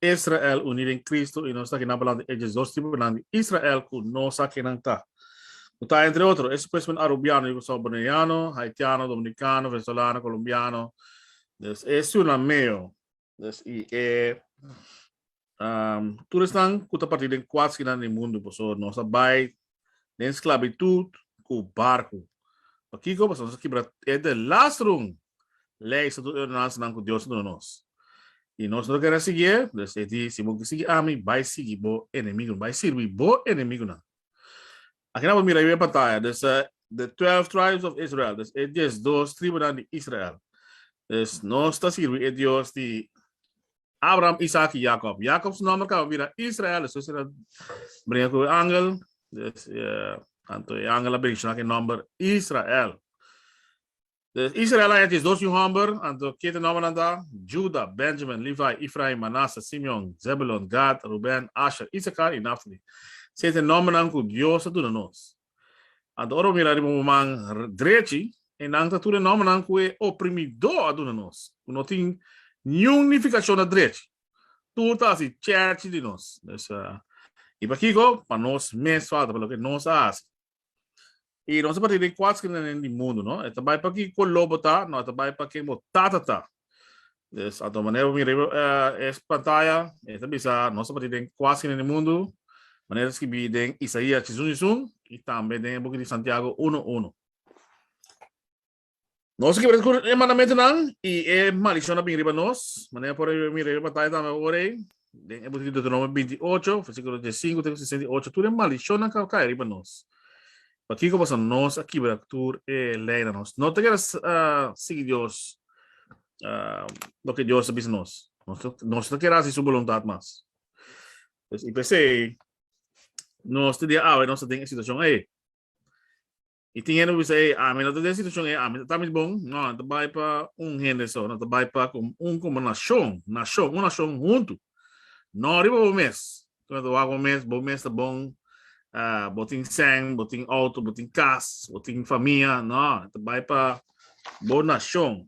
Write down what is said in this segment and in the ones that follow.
Israel uní den Kristu i nos ta kina balanta e dje dos tipunan di Israel ku no sa ke nan ta. Ku ta entre otro, e supuestamente arubiano i ku salvadoreñano, haitiano, dominikano, venezolano, kolombiano, des e siuna meo, des i e tur esnan ku ta partí den kuat skina di mundu, por eso nos ta bai den sklabitut ku barku. Pakiko? Pasobra nos a kibra e de las run lei, estatuto i ordenansanan ku Dios a duna nos. I nos no ta kere sigui e. Pues e di, Si bo ke sigui ami, bai sigui bo enemigunan, bai sirbi bo enemigunan. Aki nan por mira riba e pantaya, dus the twelve tribes of Israel, dus e diesdos tribunan di Israel. Nos ta sirbi e Dios di. Abraham, Isaac y Jacob. Jacob su nomber caba bira Israel, eso si era brinca cu angel, des, uh, anto angel a brinca que nomber Israel. Des, Israel a es dos homber, anto que te nomber anda, Juda, Benjamin, Levi, Ephraim, Manasseh, Simeon, Zebulon, Gad, Ruben, Asher, Issachar y Naphtali. Se te nomber nan cu Dios a duna nos. Anto ora bo mira riba bo man drechi, e nan ta tur e nòmbernan ku e oprimidó a duna nos, ku no tin niun nifikashon na drechi. Tur ta hasi chèchi di nos. Pues, i pa kiko? Pa nos mes falta, pa loke nos a hasi. I nos a parti di e kuat skirinanan di mundu, no? E ta bai pa ki koló bo ta, nò e ta bai pa ken bo tata ta. Des ato manera bo mira riba uh, es pantaya, e ta bisa nos ta den kuasi en el mundo, manera escribi den Isaías chisun chisun, y tambe den el book di Santiago 1:1. Nos ki bereskun e mandamentonan y e maldicionnan bin riba nos, manera por mira riba pantaya tambe ora, Den e book di Deuteronomio 28, versículo 15 te 68, tur e maldicionnan ka kai riba nos. Pa kiko pasa nos a kibra tur e ley na nos. No te keda uh, sigui Dios, uh, lo que Dios bisa nos. Nos, nos te keda si su voluntad mas. Pues, y pese, nos te dia awe, nos te den e situacion ahí. Y tin hende cu bisa, ey, ami no ta den situacion ey, ami ta ta mis bon. No, no ta bay pa un hende so, no ta bay pa com un como nacion, nacion, un nacion hunto. No riba bo mes, cu no ta wak bo mes, bo mes ta bon, bo tin sèn, bo tin auto, bo tin cas, bo tin famia, no, ta bay pa bo nacion.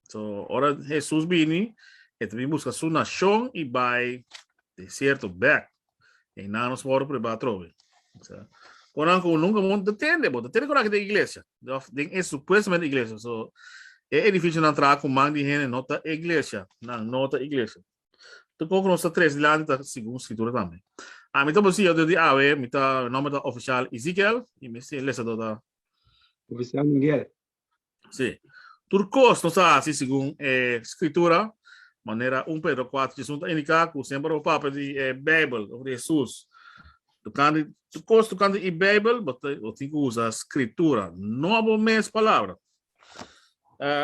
So, ora Jesus bini, e te bin busca su nacion y bai desierto back. E na nos moro preba atrobe. So, Conan como nunca mon te tende, bo te tende conan que de iglesia. Of den es supuestamente iglesia. So, e edificio nan traga con man di hene no ta iglesia. Nan no ta iglesia. Te con que nos ta tres dilante ta según escritura tambe. A mi ta bosi, yo di awe, mi ta, mi nombre ta oficial Ezekiel y mi si lesa do ta Oficial Miguel. Sí. Tur kos nos a hasi segun e Skritura, manera un Pedro kuater djesun ta indiká ku semper bo papia di e Beibel òf di Hesus. Tokante tur kos tokante e Beibel bo bo tin ku usa Skritura, no bo mes palabra.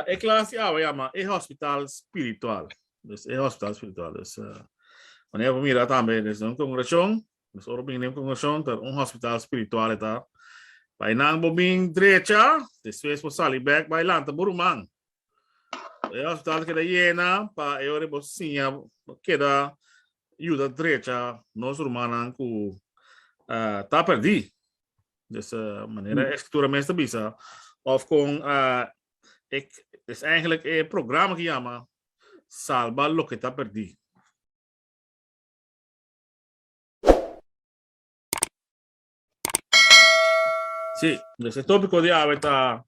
E klas di awa yama e hòspital spiritual. Des e hòspital spiritual. Des manera bo mira tambe des un kongregashon Nos ora bin den congregacion ta un hospital spiritual e ta. Bay nan bo bin drecha, despues bo sali bek bay lanta bo ruman. E hospital ta keda yena pa e ora bo siña bo keda yuda drecha nos rumannan cu ah, ta perdi. Dus eh, manera e escritura mes ta bisa of con ah, e, es eigenlijk e programa ki yama Salba loke ta perdi. Sí, nos e tópiko di awe ta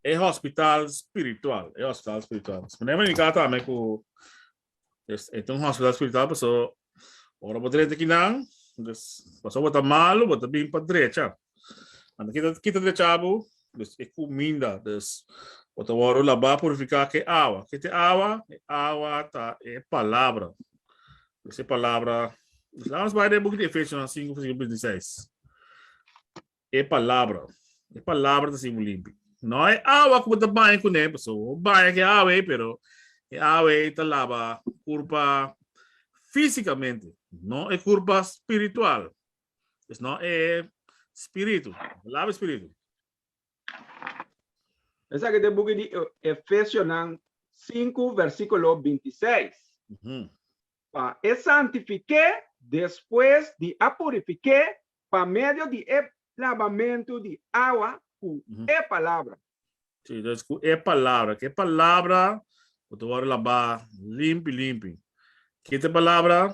e hospital spiritual, e hospital spiritual. Nos ponemos en kata me ku es e un hospital spiritual paso ora bo drenta kinan, des paso bo ta malo, bo ta bin pa drecha. Anda kita kita de chabu, dus e kuminda, dus por ta wòrdu labá, purifiká ku e awa. Ke ta e awa? E awa ta e Palabra. Pues e Palabra, laga nos bai den e buki di Efesionan sinku, versíkulo binti seis. E Palabra, e Palabra ta hasi bo limpi. Nò e awa ku bo ta baña kuné, pasobra bo baña ku e awa ei, pero e awa ei ta laba kurpa físikamente, no e kurpa spiritual. Pues no e spiritu. Palabra spiritu. Esaki te buki di Efesionan sinku versikulo binti i seis. Pa e santifiké despues di a purifiké pa medio di e labamentu di awa ku e palabra. Si, dus ku e palabra. Ke palabra ku ta wòrdu labá limpi limpi? Ki ta e palabra?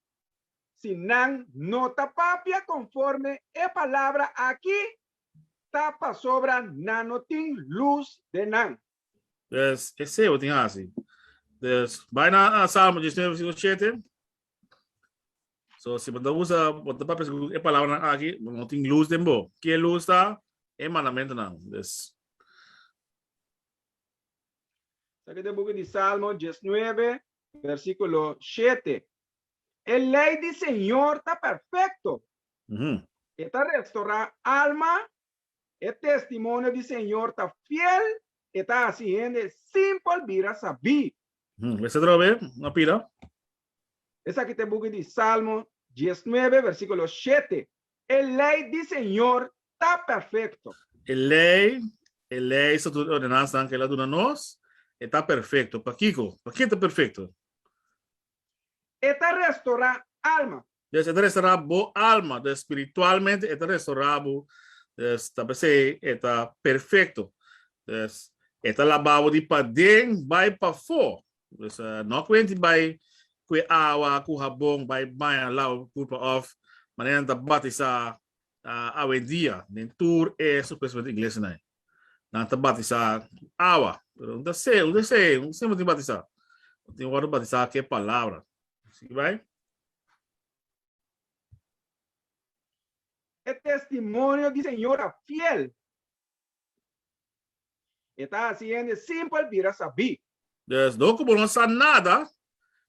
Si nan no ta papia conforme e palabra aki, ta pasobra nan no tin luz den nan. Pues, esei bo tin haci. Pues, bai na Salmo diecinueve versículo siete. So, si bo ta usa, bo ta papia segun e palabranan aki, bo no tin luz den bo. Ke luz ta? E mandamentonan. Pues. Sa ke ta e buki di Salmo diecinueve, Versículo shete, E lei di Señor ta perfecto, e ta restorá alma, e testimonio di Señor ta fiel, e ta haci hende simpel bira sabí. Lesa otro be, a pila. Esaki ta e buki di Salmo diesnuebe, versículo shete. E lei di Señor ta perfecto. E lei, e lei, statuto i ordenansanan ku el a duna nos, e ta perfecto. Pakiko? Pakiko e ta perfecto? E ta restorá alma. Des e ta restorá bo alma. Des spiritualmente e ta restorá bo. Des ta p'esei e ta perfecto. Des e ta labá bo di paden bai pafó. Pues uh, ah, no kwenti bai kwe awa, ku habon, bai baña lau pulpa of, manera ta batisa uh, ah, awendia, den tur e supuestamente inglés na. Na ta batisa awa, pero un deseo, un deseo, un sempre te batisa. Tem agora batizar que palavra. Sim, vai? É testemunho de senhora fiel. E ta hasi hende simpel bira sabí. Pues, dor ku bo no sa nada,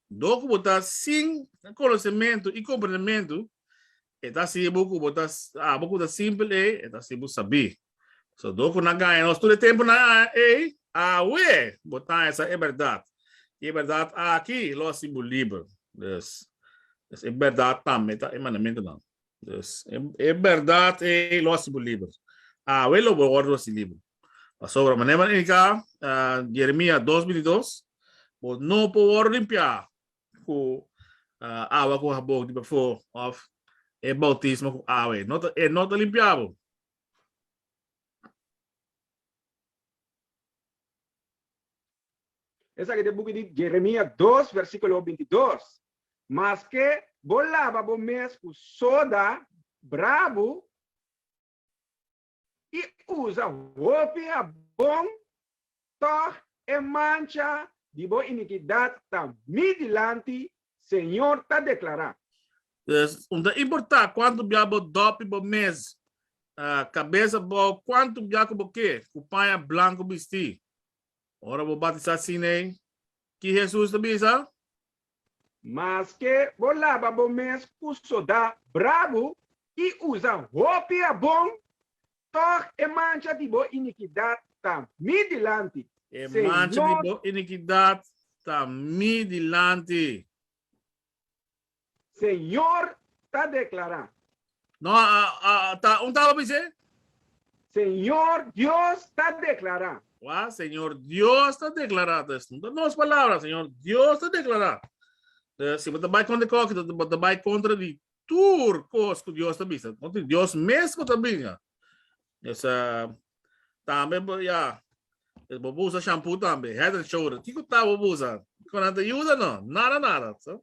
dor ku bo ta sin konosementu i komprendementu, e ta hasi bo ku bo ta, abo ku ta simpel ei, e ta hasi bo sabí. So, dor ku nan gaña nos tur e tempunan ei, awe bo ta haña sa e bèrdat, i e bèrdat aki lo hasi bo liber. Pues, es e bèrdat tambe ta e mandamentunan. Yes. E, e berdad e lo haci bo liber. Awe lo bo wordo haci liber. Pasobra mané man indica uh, Jeremia 2.22, bo no po wordo limpia ku uh, awa ku habok di befo of e bautismo ku awe. No, e no ta limpia bo. Esa que te buki di Jeremia 2, versículo 22. Maske bo laba bo mes ku soda brabu i usa hopi habon, tòg e mancha di bo inikidat ta mi dilanti, señor ta deklará. Pues, no ta importá kuantu bia bo dòpi bo mes kabes abou, kuantu bia ku bo ke ku paña blanku bistí ora bo batisá sin'ei. Ki Hesus ta bisa? Maske bo laba bo mes ku sodá brabu i usa hopi abon, tòg e mancha di bo inikidat ta mi dilanti, E mancha di bo inikidat ta mi dilanti. Señor ta deklará, No, a, a, a, ta, un talo pise? Señor Dios ta declara. Wa, Señor Dios ta declara. Dus, no ta nos palabra, Señor Dios ta declara. Dus, si bo ta bai contra coki, ta, bo ta bai contra di tur cos cu Dios ta bisa. Contra Dios mes bo ta bisa. Dus, uh, tambe, bo, ya, dus bo busa shampoo tambe, head and shoulder. Kiko ta bo busa? Kiko nan ta yuda? No, nada, nada. So,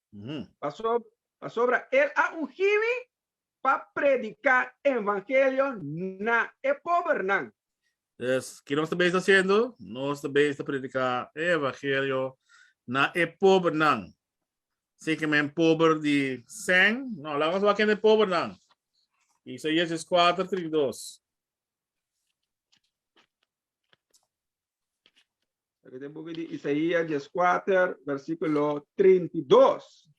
Pasobra el a ungí mi pa prediká e evangelio na e pobernan. Pues, ki nos ta bes hasiendo? Nos ta bes ta prediká e evangelio na e pobernan. Si ke men pober di sèn, nò, laga nos wak kende e pobernan. Isaías dies kuater, trinta i dos. Aquí tem book di Isaías 14, versículo 32.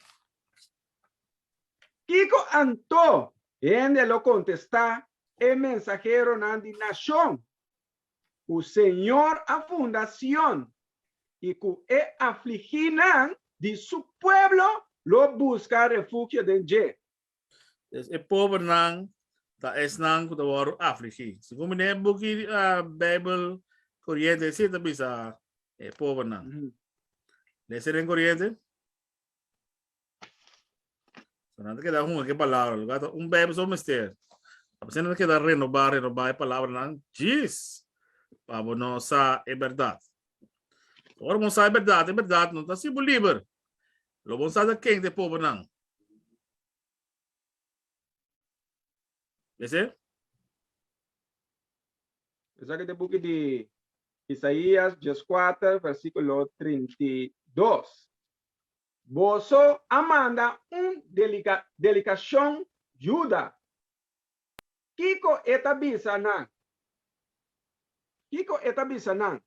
Kiko anto hende lo contesta e mensajero nan di nacion ku Señor a funda Sion i ku e afliginan di su pueblo lo buska refugio den dje. Entonces e pobernan ta esnan cu ta worde afligi. Segun mi den e buki Bijbel Corriente esei ta bisa e pobernan. Ujú. Lesa den Corriente. So nan ta keda hunga ke palabra. Lo gata un Bijbel so mester. A pesar nan ta keda renoba, renoba e palabranan. Jis! Pa bo no sa e berdad. Ora bo no sa e berdad, e berdad no ta haci bo liber. Lo bon sa sa ken ta e pobernan. Esei. Esaki ta e buki di Isaías dies kuater versikulo trinta i dos, Boso a manda un delikashon yuda Kiko e ta bisa nan? Kiko e ta bisa nan?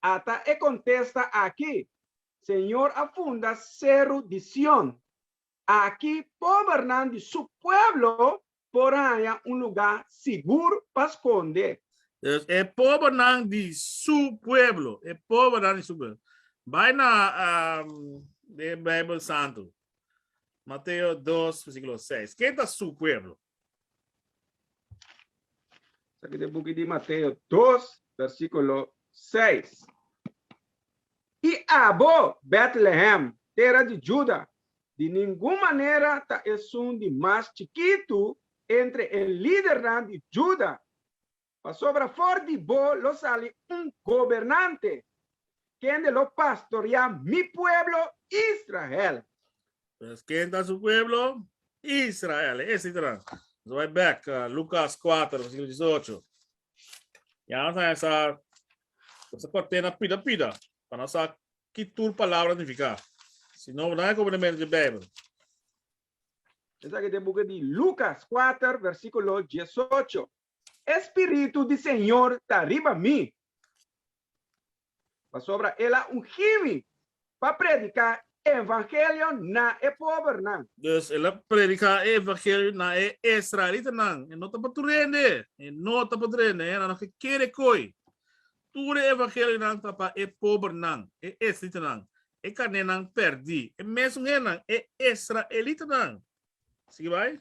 Ata e kontesta aki, Señor a funda seru di Sion. Aki pobernan di su pueblo por haña un lugá sigur pa skonde. Dòs, e pobernan di su pueblo, e pobernan di su pueblo. Bai na e Beibel Santu. Mateo 2, versículo 6. ¿Qué está su pueblo? Aquí de book de Mateo 2, versículo 6. Y abo, Bethlehem, tierra de Juda, de ningún manera ta esun de mas chikitu entre e lidernan de Juda, Pasobra for di bo lo sali un gobernante, kende lo pastoreá mi pueblo Israel. Pues, ken ta su pueblo? Israel, e ese tra. Nos a bai bek na Lucas kuater, versikulo disocho. Ya nos a haña sa, sa kuartena pida pida, pa nos sa ki tur palabra nifiká. Si no, bo no haña komprendementu di e Beibel. Esaki ta e buki di Lucas kuater, versikulo disocho. E spiritu di Señor ta riba mi, pasobra el a ungí mi pa prediká e evangelio na e pobernan. Dus el a prediká e evangelio na e israelitanan, e no ta pa tur hende, e no ta pa tur hende, e hendenan ke kere koi. Tur e evangelionan ta pa e pobernan, e israelitanan, e kanénan pèrdí, e mesun hendenan, e israelitanan. Sigui bai.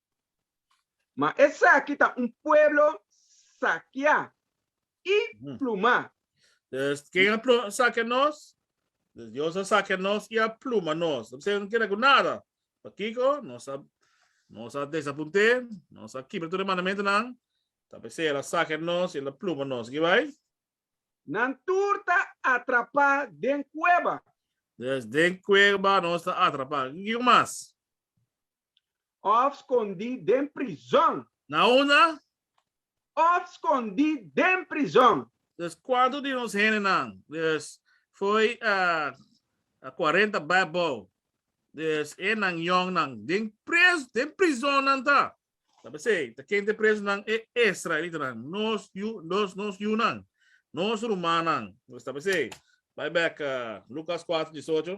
Ma esaki ta un pueblo sakiá i plumá. Des, ken a plu-, sakia nos? Des, Dios a sakia nos i a pluma nos. Ta bisa e no keda ku nada. Pakiko? Nos a, nos a desapunt'é, nos a kibra tur e mandamentunan, ta p'esei el a sakia nos i el a pluma nos. Sigi bai. Nan tur ta atrapá den kueba. Des, den kueba nos ta atrapá. Kiko mas? Òf skondí den prizòn. Na una. Òf skondí den prizòn. Dus kuantu di nos hendenan? Dus foi a kuarenta bai abou. Dus e nan yòngnan den pres, den prizòn nan ta. Ta p'esei, ta ken t'e prezunan? E israelitanan, nos yu, nos, nos yunan, nos rumannan. Dus ta p'esei, bai bèk Lukas kuater disocho.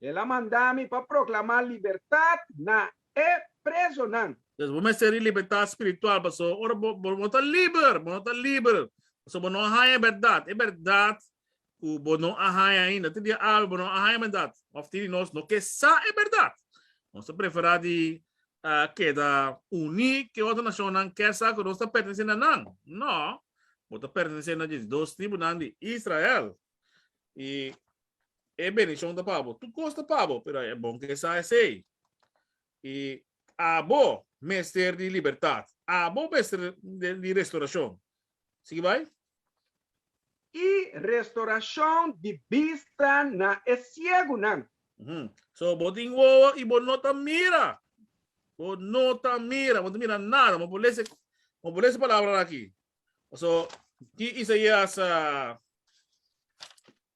El a manda mi pa proclama libertad na e prezonan. Entonces bo mester di libertad spiritual, paso ora bo bo ta liber, bo no ta liber, paso bo no a haña e berdad, e berdad cu bo no a haña ainda, te dia awe bo no a haña e berdad, of tin di nos no ke sa e berdad, nos ta prefera di keda uni ke otro nacionnan ke sa cu nos ta pertenece na nan? No, bo ta pertenece na dje i dos tribunan di Israel. Y E benishon ta pa bo. Tur kos ta pa bo, pero e bon ku e sa esei. I abo mester di libertat. Abo mester di restorashon. Sigui bai. I restorashon di bista na e siegunan. So, bo tin wowo i bo no ta mira. Bo no ta mira. Bo no ta mira nada. Bo por lese, bo por lese palabranan aki. So, ki Isaias a.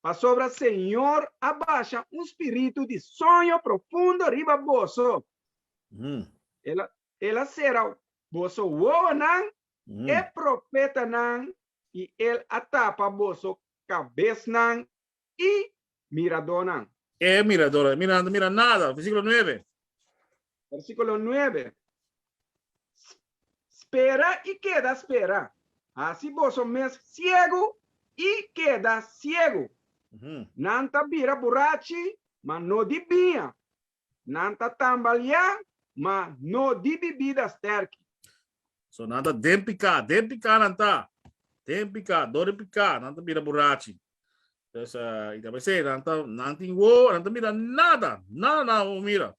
pasobra Señor a basha un spiritu di soño profundo riba boso, el a sera boso wowonan, e profetanan, i el a tapa boso kabesnan i miradónan. E miradónan, mirando, mira nada, versíkulo nuebe. Versículo nuebe, Spera i keda spera, hasi boso mes siegu i keda siegu. Nan ta bira burachi, ma no di biña, nan ta tambaliá, ma no di bibida stèrki. So nan ta den piká, den piká nan ta, den piká, dor di piká nan ta bira burachi. Pues i ta mester nan ta, nan tin wó, nan ta mira nada, nada nan abo mira.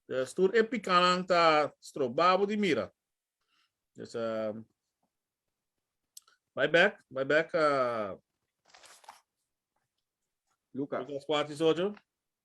Pues tur e pikánan ta strobá abo di mira. Pues bai bèk, bai bèk Lucas kuater y dis ocho.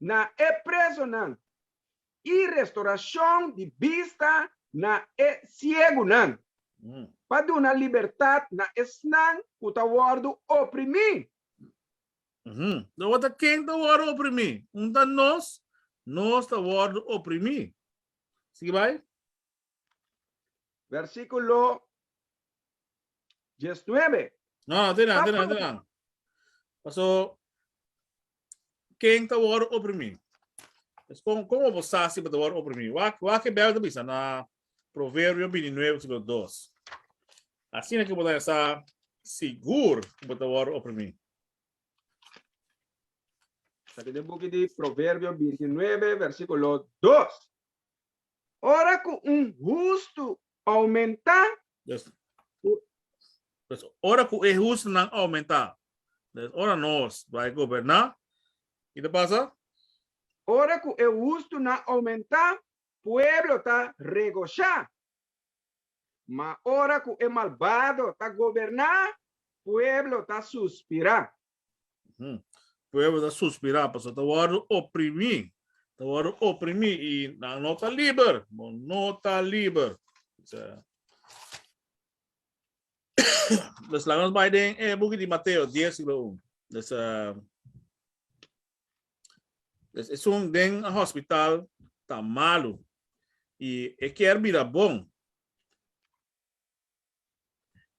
na e presonan i restoracion di bista na e ciegunan, pa duna libertad na esnan cu ta wordo oprimi. Tabata ken ta wordo oprimi? Un ta nos, nos ta wordo oprimi. Sigui bai. Versikulo diesnuebe. No, no, tira, tira, tira. Paso, ken ta wor oprimí? Es kon, kon obo sa si bo ta wor oprimí? Wa, wa ke Bijbel ta bisa na Proverbio bintinuebe, versikulo dos. Asina ke bo ta sa sigur ku bo ta wor oprimí. Sa ki den buki di Proverbio bintinuebe, versikulo dos. Ora cu un hustu aumenta. Pues, ora cu e hustunan aumenta. Pues, ora nos bai goberna, ki ta pasa? Ora cu e hustunan aumenta, pueblo ta regosha. Ma ora cu e malbado ta goberna, pueblo ta suspira. Hm. Pueblo ta suspirá pasobra ta wòrdu oprimí. Ta wòrdu oprimí i nan no ta liber. Bo no ta liber. Pues laga nos bai den e buki di Mateo dies siglo un. Pues pues esun den hospital ta malu i e kier bira bon.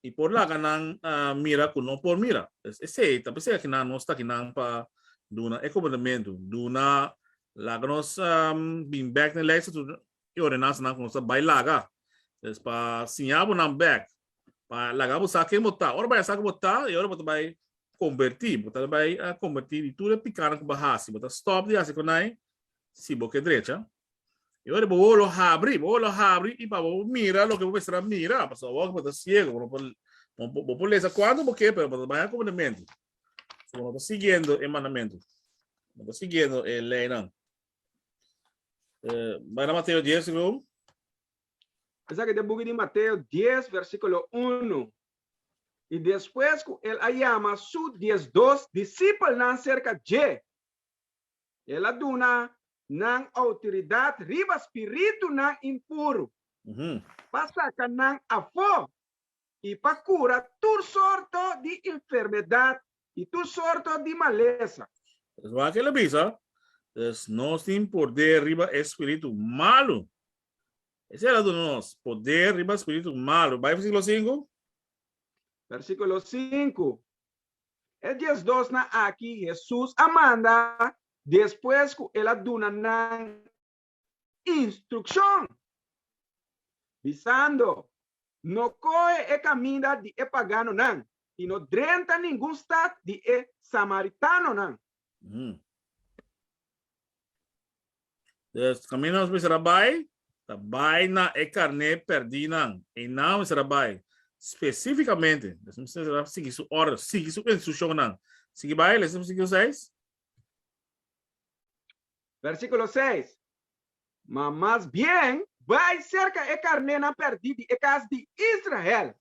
y por laga nan mira cu no por mira. Pues esey ta pasobra cu nan no sta aki nan pa duna e comandamento, duna laga nos bin bek den lijst di e ordenansanan cu nos ta bay laga. Pues pa siña bo nan bek, pa laga bo sa ken bo ta. Ora bo a yah sa ki bo ta y ora bo ta bay converti, bo ta bay converti di tur e picanan cu bo a haci. Bo ta stop di haci conai si bo ke drecha. I ora bo wou lo habri, bo wou lo habri i pa bo por mira loke bo mester a mira, pasobra awor ku bo ta siegu bo no por, bo por lesa kuantu bo ke pero bo ta baña ku bo na mente. So bo no ta siguiendo e mandamentu, no ta siguiendo e leinan. Bai na Mateo dies siguo un. Esaki ta buki di Mateo dies versikulo unu, I despues ku el a yama su diesdos disipelnan serka dje, El a duna nan outoridat riba spiritunan impuru, pa saka nan afó i pa kura tur sorto di enfermedat i tur sorto di malesa. Es wak el a bisa, Pues nos tin podé riba e spiritu malu. Esei el a duna nos podé riba spiritu malu. Bai Versíkulo sinku. Versíkulo sinku, E dies dosnan aki Hesus a manda despues ku el a duna nan instrukshon, bisando, No kohe e kaminda di e paganonan, i no drenta ningun stat di e samaritanonan. Mm. Dus camino nos bisa rabai, ta bai na e carné perdí nan. E nan bisa rabai specificamente, dus bisa rabai sigui su order, sigui su instruccionnan. Sigui bai, lesa sigio seis. Versíkulo seis, Ma mas bien bai serka e karnénan pèrdí di e kas di Israel.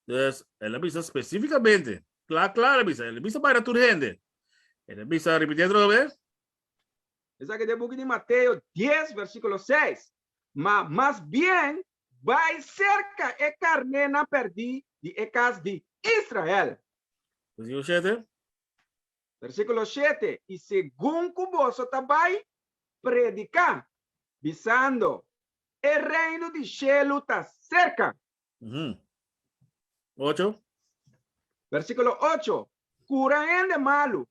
Pues, el a bisa spesífikamente, kla kla el a bisa, el a bisa bai na tur hende. El a bisa, ripitié otro bes. Esaki ta e buki di Mateo dies, versíkulo seis, Ma mas bien bai serka e karnénan pèrdí di e kas di Israel. Versíkulo shete, Versíkulo shete, I segun ku boso ta bai prediká, bisando, E reino di shelu ta serka. Ocho. Versíkulo ocho, Kura hende malu,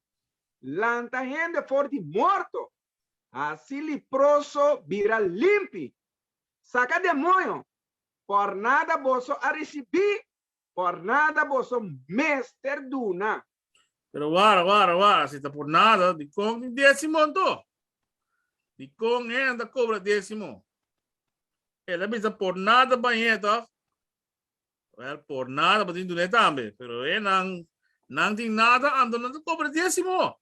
lanta hende for di morto, hasi liproso bira limpi, saka demoño, por nada boso a risibí Por nada boso mester duna. Pero wara, wara, wara, si ta por nada, dikon tin diezimo anto? Dikon hen ta kobra diezimo? E ta bisa por nada bañ'é tòg? Wèl, por nada bo tin dun'é tambe, pero e nan, nan tin nada anto nan ta kobra diezimo.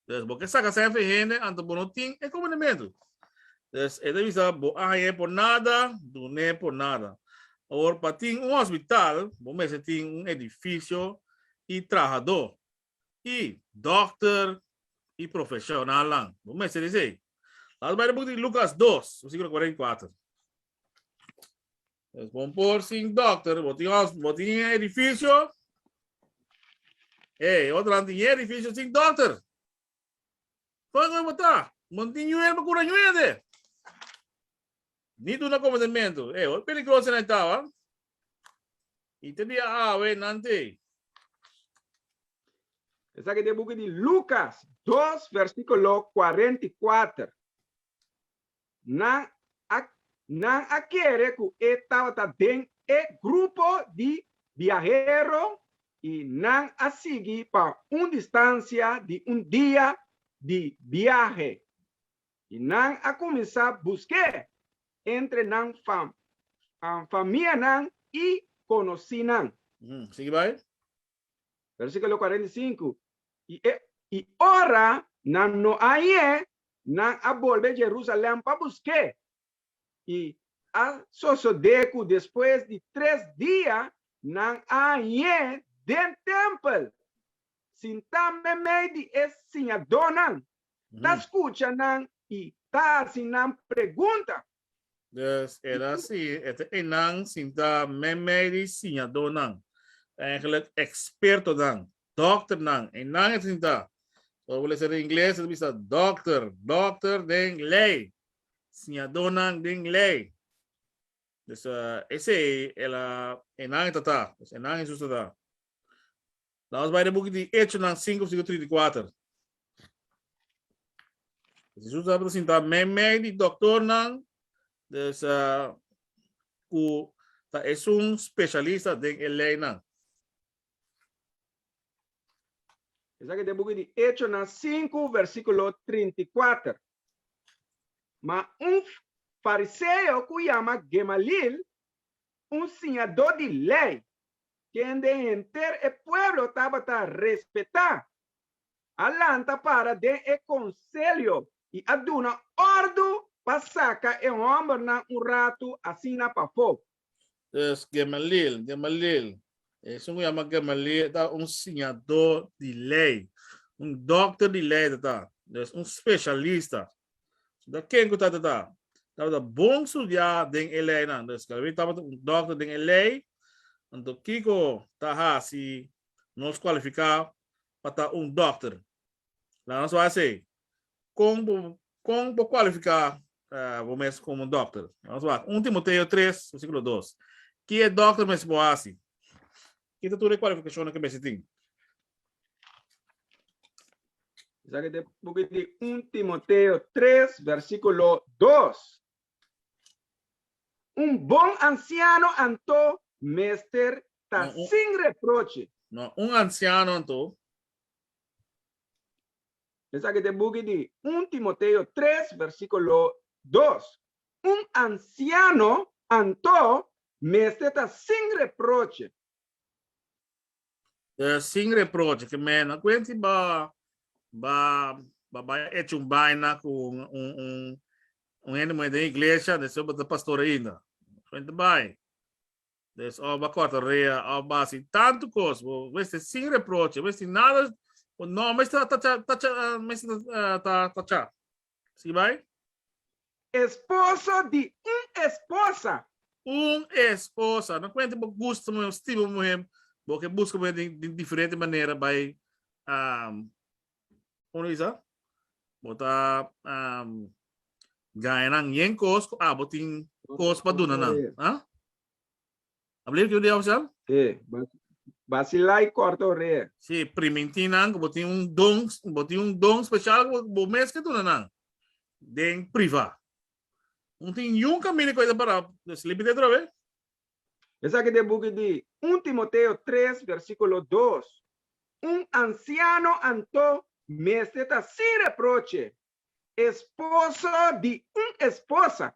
Des bo ke saka sènfe hende anto bo no tin e komodementu. Des e ta bisa, Bo a hañ'é por nada, dun'é por nada. Awor, pa tin un hospital, bo mester tin un edifisio i trahadó. I dòkter i profeshonalnan, bo mester esei. Lata bai na buk di Lukas dos, versiklo kuarenta i kuater. Pues bon por sin dokter, bo tin hos, bo tin e edifisio. E, otran tin e edifisio sin dokter. Kon kon bo ta? Bon tin ñuer, bo kura ñuer de. Ni duna komandementu. E, ol peligroso nan ta, wa. I te dia awe nan te. Esaki ta e buki di Lukas dos, versikulo kuarenta i kuater. nan a nan a kere ku e tabata den e grupo di biahero i nan a sigui pa un distansia di un dia di biahe i nan a kuminsá busk'é entre nan fam famianan i konosínan. Sigui bai. Versikulo kuarenta i sinku, I e i ora nan no ahié, nan a bolbe Jerusalèm pa busk'é. I a sosodé ku despues di tres dia nan a ahié den tèmpel, sintá meimei di e siñadónan, ta skucha nan i ta hasi nan pregunta. Dus el a sigui e ta einan sinta meimei di siñadonan, eigenlijk ekspertonan, dòkternan, einan e ta sinta. So bo lesa den ingles e ta bisa dòkter, dòkter den lei, siñadonan den lei. Dus esei el a einan e ta ta, einan Hesus a ta. La nos bai den buki di Echonan sinku vèrsikulo trinta i kuater. Jesus tabata sintá meimei di dòktornan, dus ku ta esun spesialista den e leinan. Esaki den buki di Echonan sinku vèrsikulo trinta i kuater. Ma un fariseo ku yama Gemaliel, un siñadó di lei, kende henter e pueblo tabata respetá, a lanta para den e konselho i a duna òrdu pa saka e hòmbernan un ratu asina pafó. Pues, Gamaliel, Gamaliel, esun ku yama Gamaliel ta un siñadó di lei, un dòkter di lei ta ta, un speshalista. Sinta ken ku tatata tabata bon studiá den e leinan. Nos kalab'é tabata un dòkter den e lei, anto kiko ta hasi nos kualifiká pa ta un dòkter? Laga nos wak esei. Kon bo kon bo kualifiká bo mes komo un dòkter? Laga nos wak un Timoteo tres, versíkulo dos. Ke e dòkter mester por hasi? Ki ta tur e kualifikashonnan ku mester tin? Esaki ta e buki di un Timoteo tres versíkulo dos. Un bon ansiano anto mester ta sin reproche. No, un ansiano anto. Esaki ta e buki di un Timoteo tres versíkulo dos. Un ansiano anto mester ta sin reproche. Sin reproche, ke mena kuenti bo a bai a echo un baina ku un hende muhé den iglesia anto esei bo ta pastor ainda? Kuenti bai? Entonces of bo a kòrta rea of bo a hasi tantu kos, bo mester sin reproche, bo mester nada, bo nòmber mester ta tachá. Sigi bai. Esposo di un esposa. Un esposa. No cuenta bo gusta muhe o stima muhe, bo ke busca muhe di un diferente manera bai como lo bisa bo ta gana nan yen cos cu abo tin cos pa duna nan. A believe kico di a ofrecial? Sí, vacilá y corta orea. Sí, primintinan que bo tin un don, bo tin un don special que bo mes que duna nan. Den priva. Un tin yun camino que esa para sleepy de otra vez. Esa que de buki di 1 Timoteo 3 versiculo 2. Un anciano anto mester ta sin reproche, esposo di un esposa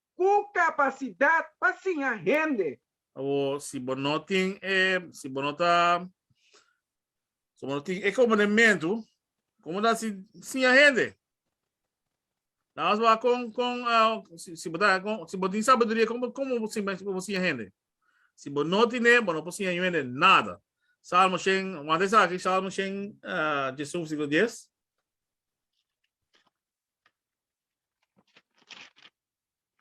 Ku kapasidat pa siña hende. Awor, si bo no tin e, si bo no ta, si bo no tin e komponementu, komo ta si siña hende? Nan mas wak kon, kon, si bo ta, kon, si bo tin sabiduria, kon bo, kon bo simen, kon bo siña hende? Si bo no tin'é, bo no por siña yu hende nada. Salmo shen, wanta esaki, Salmo shen, Jesu, versiklo dies.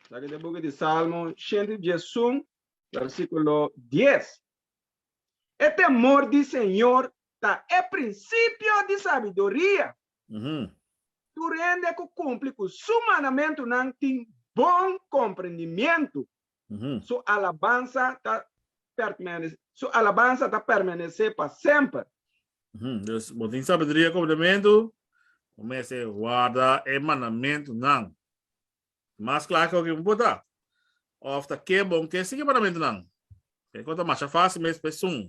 Sa keda book di Salmo shenti dies sum versikulo dies. E temor di Señor ta e prinsipio di sabiduria. Tur hende ku kumpli ku su mandamentunan tin bon komprendimientu. Su alabansa ta permanece, su alabansa ta permanece pa semper. Pues, bo tin sabidria ku mandamentu, bo mester warda e mandamentunan. Mas kla ke oki bo por ta, òf ta ke bon ke sigui e mandamentunan. Ke kos ta masha fásil mes p'esun,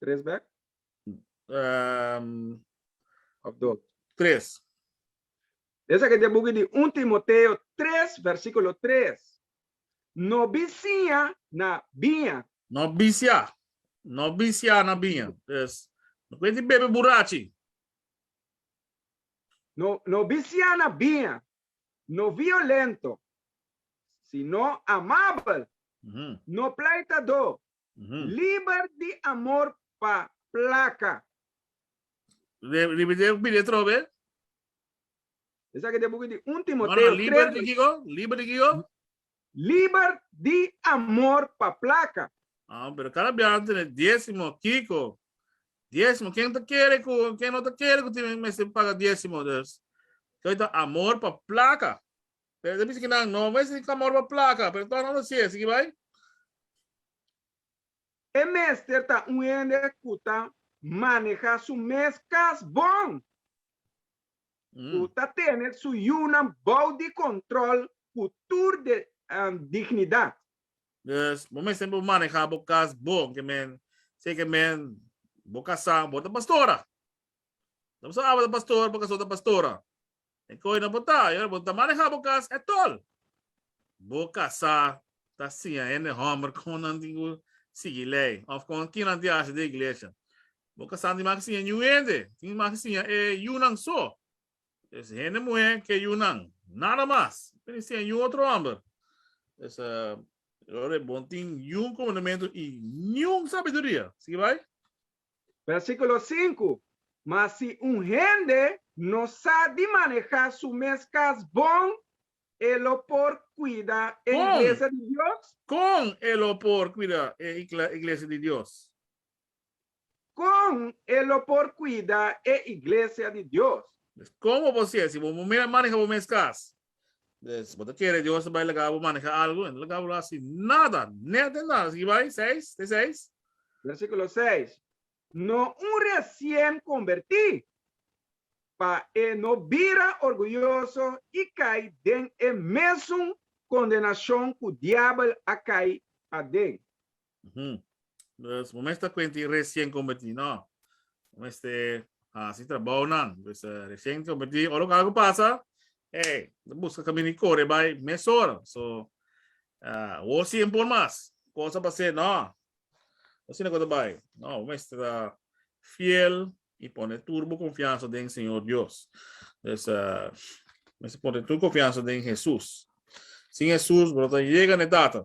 Tres bek? Ehm, Of dos? tres. Esaki ta e buki di un Timoteo tres versikulo tres, No bisiña na biña. No bisiá, no bisiá na biña. Pues, no kwenti bebe burachi. No, no bisiá na biña, no violento, sino amabel, Mhm. no plaitadó, Liber di amor pa placa. Ripitié biblia atrobe. Esaki ta e buki di un Timoteo tres. No no liber di kiko? Liber di kiko? Liber di amor pa placa. Ah pero cada biaha ta tene diezimo kiko? Diezimo ken ta kere ku ken no ta kere ku tin mester paga diezimo? Pues koi ta amor pa placa. Nan ta bisa ki nan, No, mester di kamor pa plaka, pero tok nan lo hasié. Sigui bai. E mester ta un hende ku ta manehá su mes kas bon, ku ta tene su yunan bou di kòntròl ku tur dignidat. Dus, bo mester por manehá bo kas bon. Ke men, si ke men, bo kasá, bo ta pastora. Nan bo sa Aba ta pastora, bo kasó ta pastora. E koi nan bo ta, y ora bo ta maneha bo cas, e tol. Bo casa ta siña hende homber con nan tin cu sigui ley, of con ki nan tin haci den iglesia. Bo casa tin maki siña ñu hende, tin maki siña e yunan so. Pues hende muhe ke yunan, nada mas. Miri siña ñu otro homber. Pues y ora bo tin ñu comandamento y niun sabiduria, sigui bay. Versículo sinku, Ma si un hende no sa di manehá su mes kas bon, e lo por kuida e iglesia di Dios? Kon e lo por kuida e iglesia di Dios? Kon e lo por kuida e iglesia di Dios? Komo bo sier si bo mira manehá bo mes kas? Pues, bo ta kere Dios ta bai laga bo maneha algu? E no laga bo lo hasi nada, nea den nada. Sigui bai, seis, te seis. Versikulo seis, No un resien kombertí, pa e no bira orguyoso i kai den e mesun kondenashon ku Diabel a kai aden. Ujú. Dus mo mester cuenta y recién convertí, no. Mo mester haci trabajo nan. Dus eh, recién convertí, oro que algo pasa, hey, de busca camino y corre bij mes hora. So, ah, wo zien por mas. Cosa pa ser, no. Así no cosa bij. No, mo mester ah, fiel y pone turbo confianza den Señor Dios. Dus eh, mester pone turbo confianza den Jesús. Sin Jesús, bro, ta llega ne tata.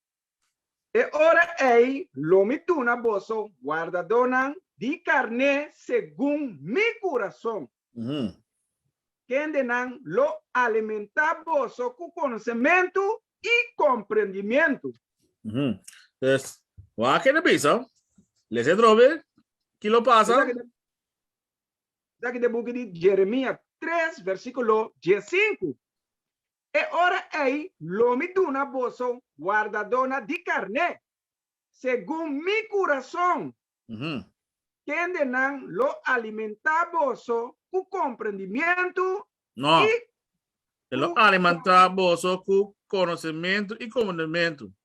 E ora ei lo mi duna boso guardadónan di karné segun mi kurason. Kendenan lo alimentá boso ku konosementu i komprendimientu. Pues, wak ta bisa? Lesa e trobe, ki lo pasa? Esaki ta e buki di Jeremia tres, versíkulo diesinku. E ora ei lo mi duna boso wardadónan di karné, segun mi kurason, kendenan lo alimentá boso ku komprendimientu i ku.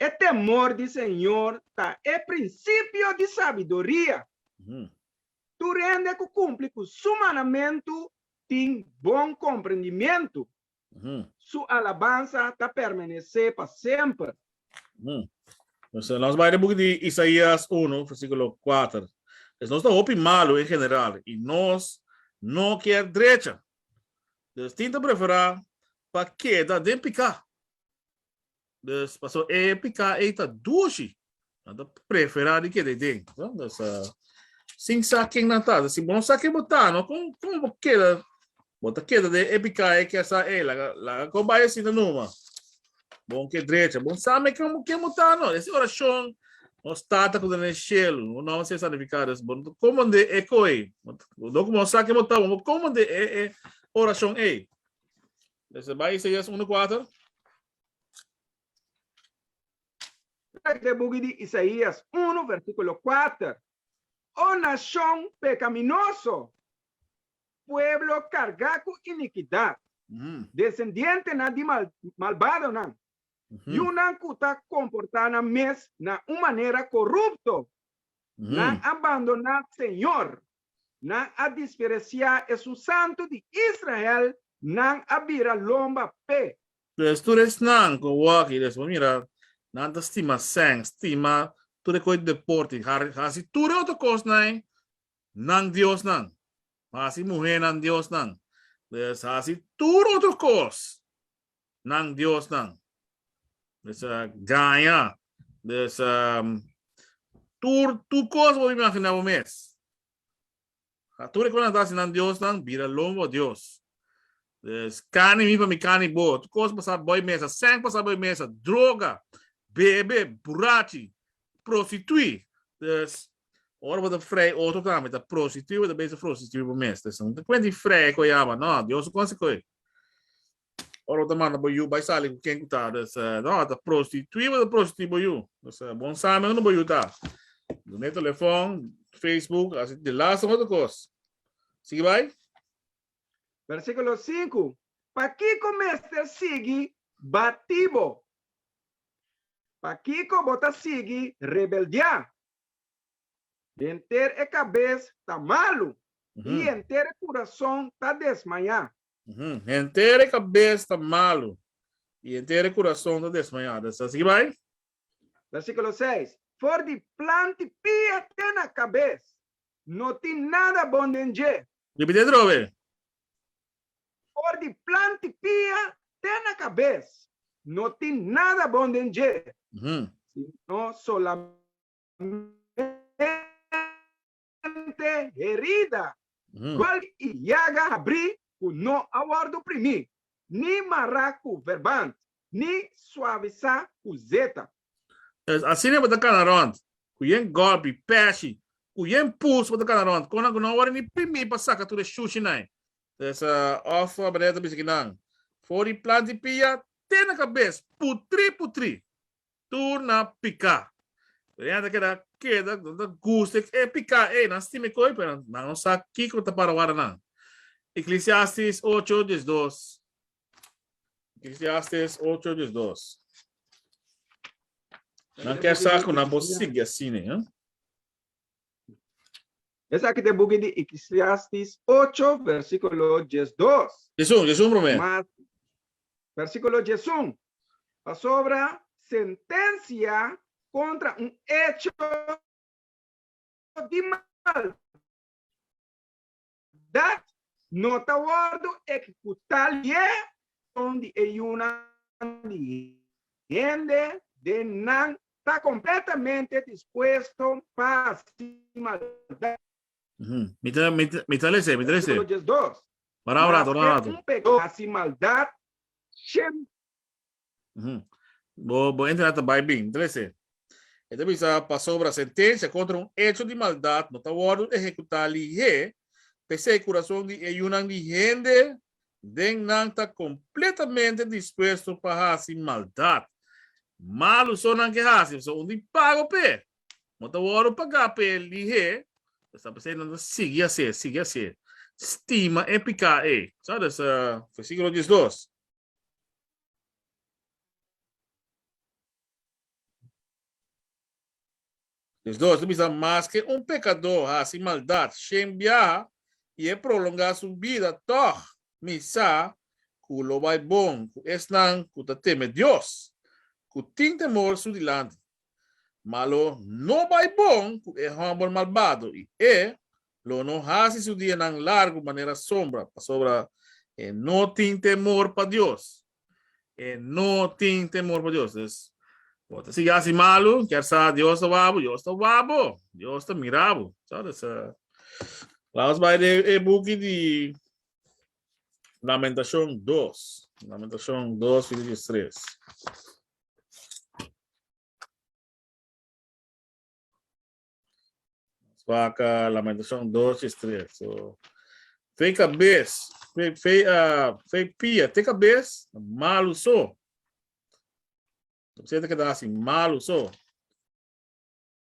E temor di Señor ta e principio di sabiduria. Tur hende cu cumpli cu su manamentu tin bon comprendimento. Su alabansa ta permanece pa semper. Entonces, nos bai den boek di Isaías uno, versiculo kuater. Pues nos ta hopi malu en general y nos no kier drecha. Nos tin ta prefera pa keda den pica. Dus paso e pica ei ta dushi. Nan ta prefera di keda den. No? Dus uh, sin sa ken nan ta. Si bo no sa ken bo ta, no? Kon, kon bo keda, bo ta keda den e pica ei ke sa ei, laga, laga ko bai si na numa. Bon ke drecha, bon sa me ken, ken bo ta, no? Esi oracion, nos tata ku den e shel, un nom se santifica, dus bon ta komande e koi. Dok mo sa ken bo ta, bon bo komande e, e oracion ei. Lesa bai Isaias 1 4. Trek de buki di Isaias 1 versikulo 4. O nashon pekaminoso, pueblo kargá ku inikidat, desendientenan di malbadonan, yunan ku ta komportá nan mes na un manera korupto, nan a bandoná Señor. Nan a disperesiá esun santu di Israel, nan a bira lomba p'e. Pues tur esnan ku a wak i despues mira, nan ta stima sèn, stima tur e kos di deport i hasi tur e otro kosnan nan diosnan, hasi muhénan diosnan, pues hasi tur otro kos. nan diosnan. Pues a gaña. Pues a tur tur kos bo imaginá bo mes. A tur e kos nan ta hasi nan diosnan bira lon bo dios. Pues kani mi pa mi kani bo. Tur kos pasá boi mesa. Sèk pasá boi mesa. Droga, bebe, burachi, prostituí. Pues ora bo ta frei otro tambe ta prostituí bo ta bisa prostituí bo mes. Pues no ta kuenti frei ku e aba. No, dios no konsekuensha. Ora bo ta manda bo yu bai sali ku ken ku ta des no a ta prostitui bo ta prostitui bo yu. Des bon sa men bo yu ta. Done telefon, Facebook, asi di las un otro kos. Sigui bai. Bersikulo sinku, Pakiko mester sigui batí bo? Pakiko bo ta sigui rebeldiá? Di henter e kabes ta malu. I henter e kurason ta desmayá. Henter e kabes ta malu. I henter e kurason ta desmayá. Ta sa sigui bai. Versíkulo seis, For di planti pia te na kabes, no tin nada bon den dje. Repit'é dor awe. For di planti pia te na kabes, no tin nada bon den dje, sino solamente. mente herida, cual i yaga habrí cu no a wordo primí, ni mará cu verband, ni suavisá cu zeta. Pues, asina bo ta cana rond, cu yen golpi, peshi, cu yen puls bo ta cana rond, con nan cu no a wordo ni primí pa saca tur e shushinan. Pues, of Abreu ta bisa ki nan, For i plant di pia, te na cabes, putrí, putrí! tur na pika. Pero nan ta keda keda nan ta gusta e pika ey nan stima e koi pero nan nan no sa kiko ta para wara nan. Eclesiastes ocho diesdos Eclesiastes ocho diesdos Nan ker sa cu nan por sigui asina. Esaki ta e buki di Eclesiastes ocho, versíkulo diesdos. Diesun, diesun promé. Mas, versíkulo diesun, Pasobra sentensia kontra un echo di maldad dat no ta wòrdu ekekutá lye son di e yunan di hende den nan ta kompletamente dispuesto pa hasi maldat. Mi ta lese, mi ta lese. Versíkulo diesdos. Ora un rato, ora un rato. Mas te un pegadó hasi maldat, shembra. Uhm. Bo bo ente na ta bai bin. Dele esei. E ta bisa, Pasobra sentensia kontra un echo di maldat no ta wòrdu ehekutá lihé, p'esei kurason di e yunan di hende den nan ta kompletamente dispuesto pa hasi maldat. Malu so nan ke hasi, pasobra un di pago p'e no ta wòrdu pagá p'e lihé, esta p'esei nan ta sigui hasié, sigui hasié, stima e piká ei. Sa desa versíkulo diesdos. Nos dos ta bisa maske un pekadó hasi maldat shen biaha i e prolongá su bida, tòg mi sa ku lo bai bon ku esnan ku ta teme Dios, ku tin temor su dilanti. ma lo no bai bon ku e hòmber malbado i e lo no hasi su dianan largu manera sombra, pasobra e no tin temor pa Dios. E no tin temor pa Dios. Dus, bo ta sigui hasi malu, kier sa Dios ta wak bo? Dios ta wak bo. Dios ta mira bo. Sa, dus, laus bai den e buki di. Lamentacion dos, Lamentacion dos verso diestres. Nos vaca Lamentacion dos diestres. So, fe cabes, fe, fe, uh, fe pia, te cabes, malu so. Siete que da así, malu so.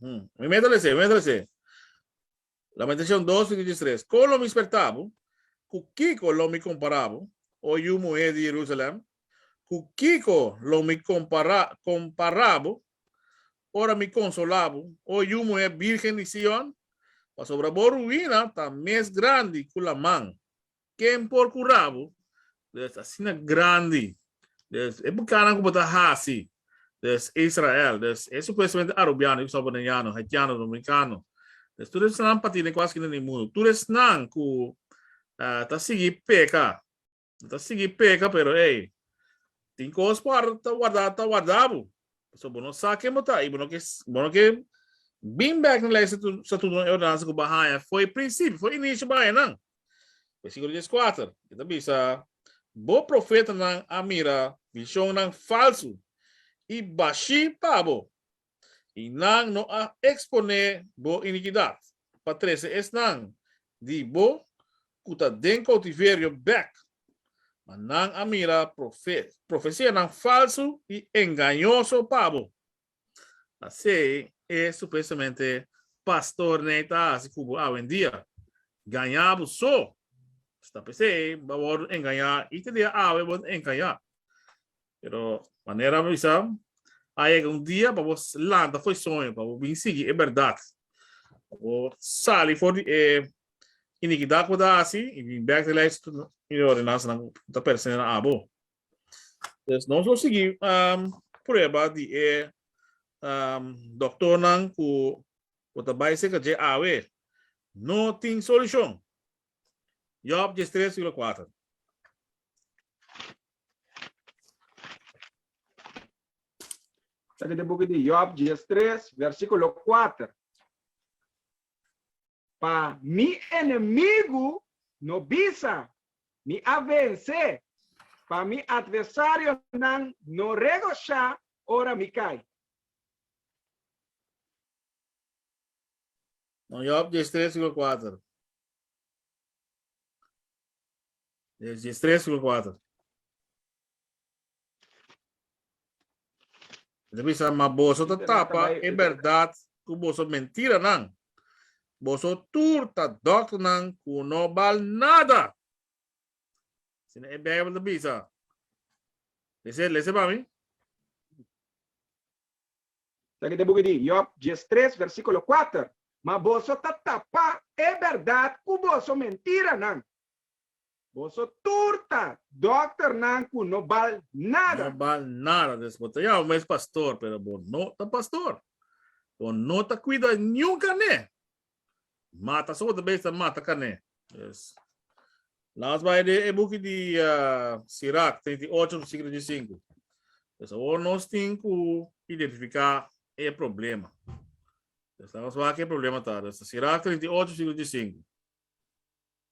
Hmm. Mi meta lese, mi meta lese. Lamentacion 2, verso 3. Con lo mi sperta bo? Cu kico lo mi compara bo, o yu muher di Jerusalem? Cu kico lo mi compara, compara bo, ora mi consola bo, o yu muher birgen di Sion? Pasobra bo ruina ta mes grandi cu laman, Ken por kura bo? Des asina grandi. Des e pekanan ku bo ta hasi. Des Israel. Des e supuestamente arubiano, yo kusaba boneiano, haitiano, dominikano. Des tur esnan pa tine kual skina den e mundu. Tur esnan ku ta sigui peka. Bo ta sigui peka pero ey tin kos por ta warda ta warda bo. Pasobra bo no sa ken bo ta i bo no ke bo no ke bin bek na lei statuto e ordenansa ku bo a haña. Foi prinsipio, foi inishi baña nan. Versikulo dies kuater e ta bisa, Bo profetanan a mira vishonnan falsu i bashí pa bo, i nan no a eksponé bo inikidat pa trese esnan di bo ku ta den koutiverio bèk. Ma nan a mira profesianan falsu i engañoso pa bo. Asei e supuestamente pastornan e ta hasi ku bo awendia. Gañá bo so. Esta pesei bo a wòrdu engañá i te dia awe bo ta engañá. Pero manera mi bisa, a yega un dia pa bo lanta for e soño, pa bo bin sigui e bèrdat, pa bo sali for di e inikidat ku bo ta hasi i bin bèk di lei di ordenansanan ku ta pertenenan abo. Pues nos lo sigui um, prueba di e um, doktornan ku ku ta bai seka dje awe. No tin solushon. Job djes tres siglo kuater. Saki di buki di Job djes tres versikulo kuater. Pa mi enemigu no bisa Mi a vensé, pa mi adversarionan no regoshá ora mi kai. Bon Job dies tres sico cuater. Job dies tres sico cuater. Enta bisa, ma boso ta tapa e bèrdat ku boso mentiranan. Boso tur ta dòkternan ku no bal nada. Asina e Beibel ta bisa. Lese, lese pa mi. Taki ta e buki di Jòb, djes tres, versíkulo kuater, Ma boso ta tapa e bèrdat ku boso mentiranan. Boso tur ta dokter nan ku no bal nada. No bal nada des bo ta yama bo mes pastor pero bo no ta pastor. Bo no ta kuida niun kané. Mata so bo ta besta mata kané. Yes. Las bai de e buki di Sirach treinta i ocho versiklo di sinku. Pues awor nos tin ku identifiká e problema. Pues la nos wak ke problema ta. Sirach treinta i ocho versiklo di sinku.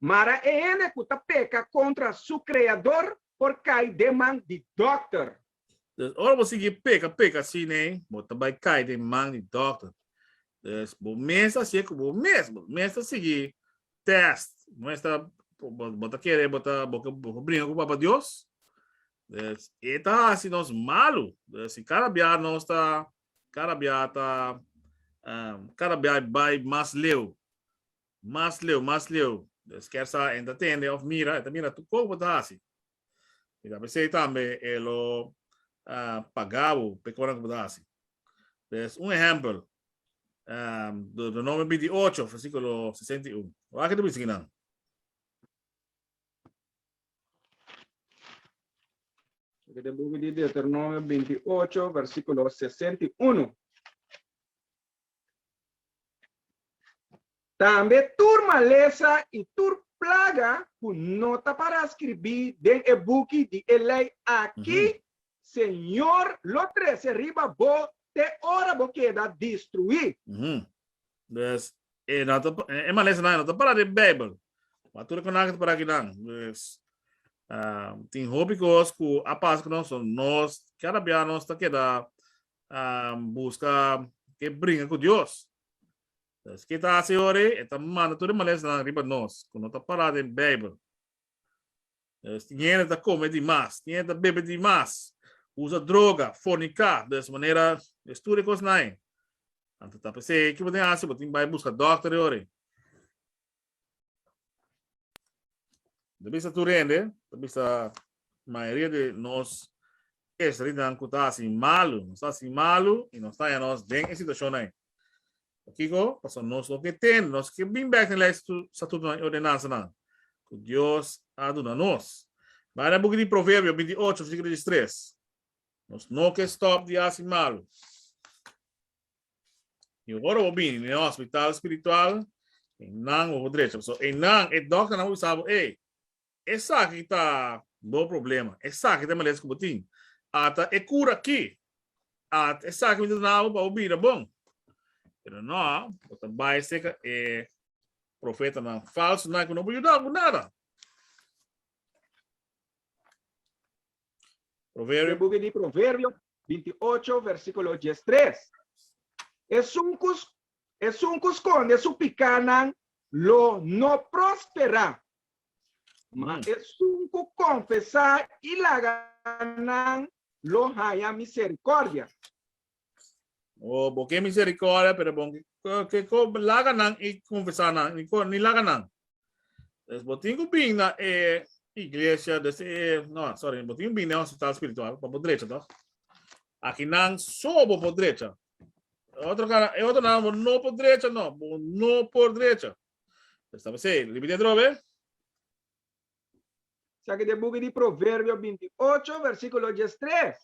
Mara e hende ku ta peka kontra su Kreador por kai den man di dòkter. Des ora bo sigui peka peka asin ei, bo ta bai kai den man di dòkter. Des bo mes ta hasié ku bo mes, bo mes ta sigui tèst. Muestra bo ta kere bo ta bo por bringa ku Papa Dios. Des e ta hasi nos malu. Des si kada bia nos ta kada bia ta kada bia bai mas leu Mas leu, mas leu. Deus kier sa e ta tende of mira, e ta mira tur kou bo ta hasi. I ta pesei tambe e lo paga bo pa e konan ku bo ta hasi. Des un ehèmpel, Deuteronomio binti ocho, versíkulo sesenta i un. Wak e ta bisa kinan? Loke den buki di Deuteronomio binti ocho, versíkulo sesenta i uno. Tambe tur malesa i tur plaga ku no ta para skirbí den e buki di e lei akí, Señor lo trese riba bo te ora bo keda destruí. Pues, e no ta, e malesanan e no ta para den Beibel. Wak tur e konan ku ta para akinan. Pues, tin hopi kos ku a pasa ku nos, so nos, kada bia nos ta keda a buska ke bringa ku Dios. Entonces, ke ta hasi ora ei? E ta manda tur e malesnan riba nos ku no ta pará den Beibel. Entonces, tin hende ta kome di mas, tin hende ta bebe di mas, usa droga, forniká, des manera es tur e kosnan ei. Anto ta p'esei, ke bo tin hasi? Bo tin bai buska dòkter ei ora ei? Ta bisa tur hende, ta bisa mayoria di nos esterinan ku ta hasi malu. Nos ta hasi malu i nos taña nos den e situashon ei. Pakiko? Pasobra nos no ke tende, nos no ke bin bek na e lei, statutonan i ordenansanan ku Dios a duna nos. Bai na buki di Proverbio binti ocho, versiklo diestres. Nos no ke stòp di hasi malu. Y ora bo bini na e hospital spiritual, eynan bo por drecha. Pasobra eynan, e dokternan a wisa bo, ey, esaki ta bo problema, esaki ta e males ku bo tin. Ata e kura aki, ata esaki mi ta duna bo pa bo bira bon. Pero no, bo ta bai seka e profetanan falsonan ku no por yuda bo ku nada. Proverbio. Book di Proverbio, binti ocho versíkulo dies tres. Esun ku esun ku skonde su pikánan lo no prosperá, ma esun ku konfesá i laga nan lo haña miserikòrdia. O bo ke miserikòrdia, pero bo ke laga nan i konfesá nan, ni laga nan. Entonces, bo tin ku bin na e iglesia des e no, sorry, bo tin bin na hospital spiritual pa bo drecha toch? Aki nan so bo por drecha. Otro cara, e otro nan bo no por drecha no, bo no por drecha. Está me sei, repite otro vez. Sa ki den buki di Proverbio 28 versikulo dies tres,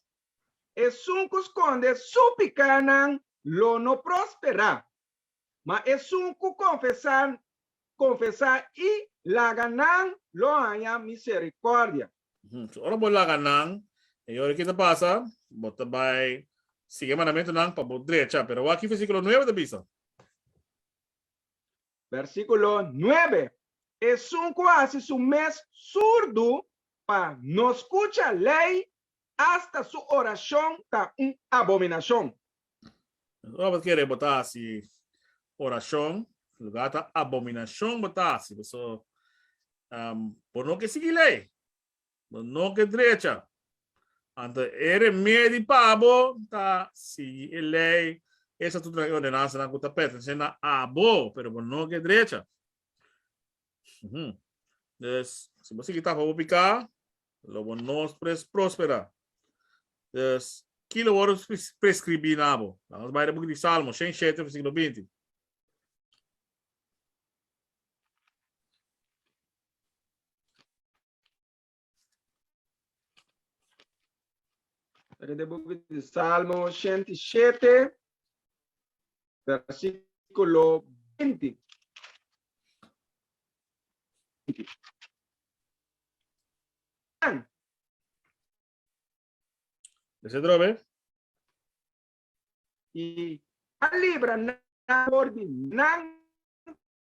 Esun ku skonde su pikánan lo no prosperá, Ma esun ku konfesá, konfesá i laga nan lo haña miserikòrdia. So ora bo laga nan, e yori ki ta pasa, bo ta bai sigui e mandamentunan pa bo drecha. Pero awor ki versíkulo nuebe ta bisa. Versíkulo nuebe, Esun ku hasi su mes surdu pa no skucha lei, asta su orashon ta un abominashon. Ora bo ta kere bo ta hasi orashon, lugá ta abominashon bo ta hasi. Pasobra bo no ke sigui lei, bo no ke drecha. Anto e remedi pa bo ta sigui e lei, e estatutonan, e ordenansanan ku ta pertense na abo, pero bo no ke drecha. Dus, si bo sigui tapa bo piká, lo bo no pres próspera. Dus, ki lo wòrdu preskribí na bo? Laga nos bai den buki di Salmo, shen shete, versíkulo binti. Ora de book di Salmo shent i shete, versículo beinti. Ese drobe. I a libra nan por di nan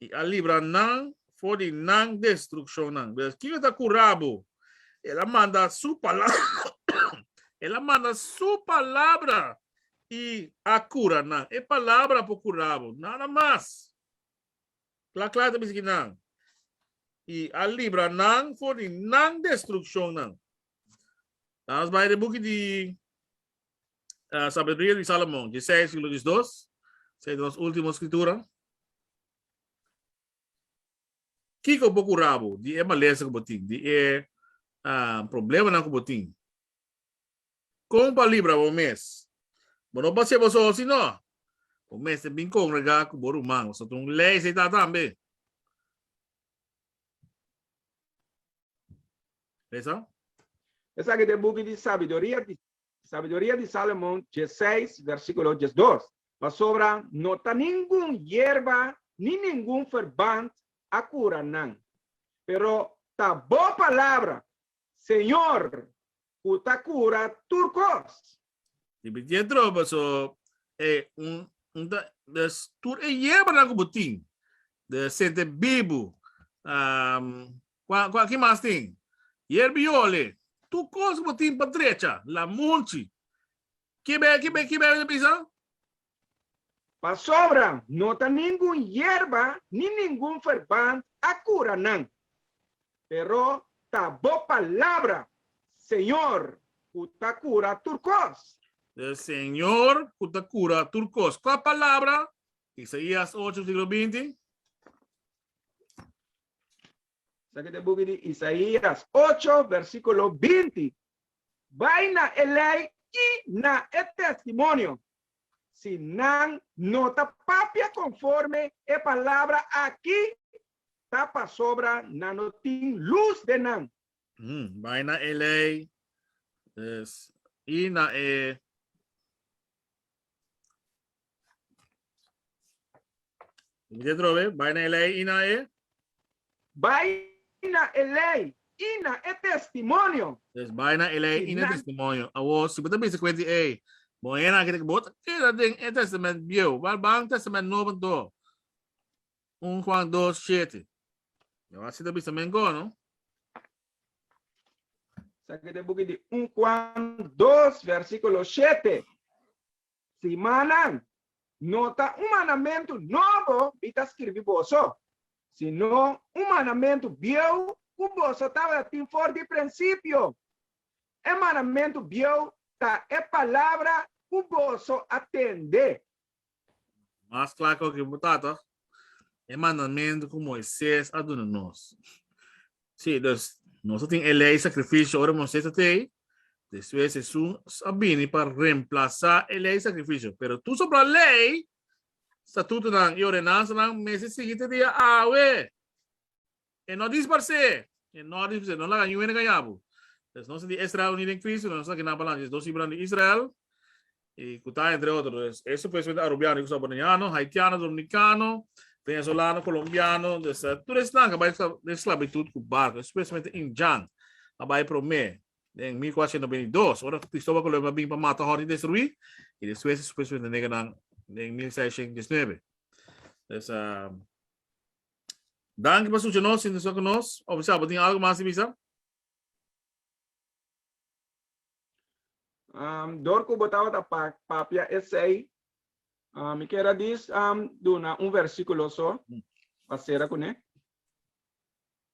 i a libra nan for di nan destrukshonnan. Pues, kiko e ta kura bo? El a manda su palabra, el a manda su palabra i a kura nan. E palabra por kura bo, nada mas. Kla kla e ta bisa ki nan, i a libra nan for di nan destrukshonnan. La'a nos bai den e buki di uh, Sabiduría di Salomón, di 6, siglo 12, sei nos último escritura. Kiko bo curabo di e malesa que bo tin, di e uh, problema na que bo tin. Con pa libra bo mes. Bo no pasé bo so, sino bo mes te bin congrega que bo rumán. So tun lei sei ta tambe. Esa? Esa que te buki di sabiduría di Sabiduria di Salomon diesseis versíkulo diesdos, Pasobra no ta ningun yerba ni ningun ferbant a kura nan, pero ta bo palabra, Señor, ku ta kura tur kos. Tin piti e troba, so e un un ta des tur e yerbanan ku bo tin, de sente bibu. Kua, kua ki mas tin? Yerbi yole, tur kos ku bo tin pa drecha, la munchi. Kibe, kibe, kibe bo ta bisa? Pasobra no ta ningun yerba ni ningun verband a kura nan, pero ta bo palabra, Señor, ku ta kura tur kos. Del Señor ku ta kura tur kos. Kua palabra? Isaías ocho, versíkulo binti. Esaki ta e buki di Isaías ocho versikulo binti, Bai na e lei i na e testimonio, si nan no ta papia konforme e palabra aki, ta pasobra nan no tin lus den nan. Bai na e lei i na e Repite otro vez, bai na e ley y na e. Bai na e ley y na e testimonio. Yes, bai na e ley y na e testimonio. Awor, si bo ta bisa kuenti, ey, bon hende aki bo ta keda den e testament bieu, bal ban testament nobo anto? Un Juan dos shete. Lo asi ta bisa men go, no? Saki den buki di un Juan dos versikulo shete. Simannan, no ta un mandamentu nobo mi ta skirbi boso, sino un mandamentu bieu ku boso tabata tin for di prinsipio. E mandamentu bieu ta e palabra ku boso a tende, Mas kla kua ki bo tata e mandamentu ku Moises a duna nos. Sí, dus nos a tin e lei sakrifisio ora Moises a ta ei, despues Hesus a bini pa remplasá e lei sakrifisio. Pero tur soprá lei, statutonan i ordenansanan mester sigui te dia awe. E no dispars'é, e no dispars'é, no laga yuende kaña bo. Pues nos di Israel uní den Kristu, nos ta kina balans, es dos hibran di Israel, i ku ta entre otro, eso pues wen arubiano ku sa bo neña, no haitiano, dominikano, venezolano, kolombiano, tur esnan a bai den sklabitut ku barko, espesialmente Injan a bai promé den mil kuatrocientos nobenta i dos, ora ku Kristobal Kolon a bin pa mata hòrta i destruí, i despues espesialmente negernan den mil seiscientos dieznuebe. Pues Danki pa sucia nos, sintiso cu nos, of bisa bo tin algo mas di bisa? Um, door cu bo tabata pa papia esey, um, mi quiera dis um, duna un versiculo so, pa cera cu ne.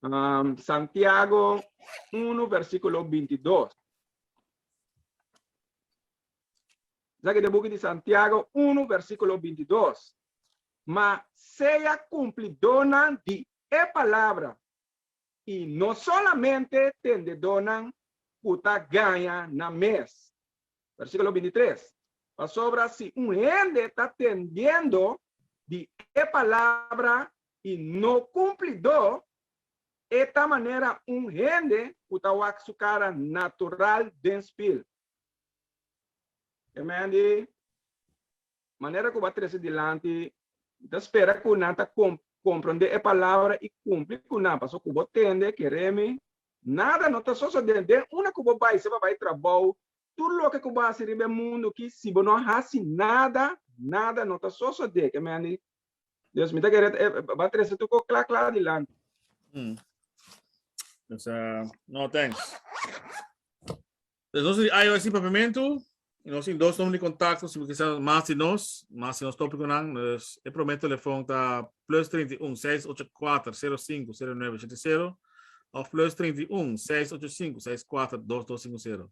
Um, Santiago 1, versiculo 22. Esaki ta buki di Santiago unu versikulo binti i dos. Ma sea kumplidónan di e palabra i no solamente tendedónan ku ta gaña nan mes. Versikulo binti i tres. Pasobra si un hende ta tendiendo di e palabra i no kumplidó, e ta manera un hende ku ta wak su kara natural den spil. E men di manera ku bo a trese dilanti, Bo ta spera ku nan ta komprondé e palabra i kumpli ku nan, pasobra ku bo tende, kere mi, nada no ta sosodé den unda ku bo bai, si bo a bai trabou, tur loke ku bo hasi riba e mundu akí, si bo no hasi nada, nada no ta sosodé. Ke men di Dios mi ta kere e ba trese tu ko kla kla dilanti. Mm. Dus eh, no thanks. Dus nos di IOS di papiamento, y nos in dos nombre di contacto, si quizás más di nos, más di nos tópico nan, dus e primer telefoon ta plus 31 684 05 0970 of plus 31 685 64 2250.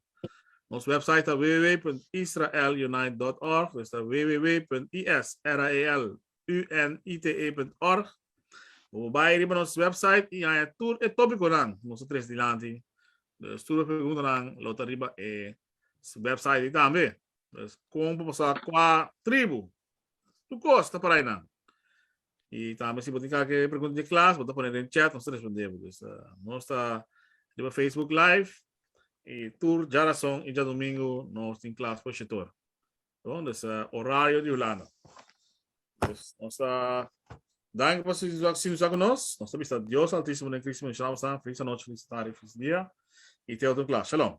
Nos website ta www.israelunite.org, dus ta www.israelunite.org. Bo bai riba nos website i haña tur e tópikonan ku nos ta tres dilanti. Dus tur e preguntanan lo ta riba e website ei tambe. Dus kon pa pasá kua tribu? Tukos ta para einan? Y tambe si bo tin kake pregunta di klas bo ta pone den chat nos ta respondebo. Pues nos ta riba Facebook live y tur djarason y djadomingo nos tin klas for shitor. Bon, dus horario di Hulanda. Pues nos ta danki pa su sintonisa cu nos. Nos ta bisa Dios Altisimo den Cristo mi nomber shinabotan. Feliz anochi, feliz tardi, feliz dia y te otro klas. Shalom.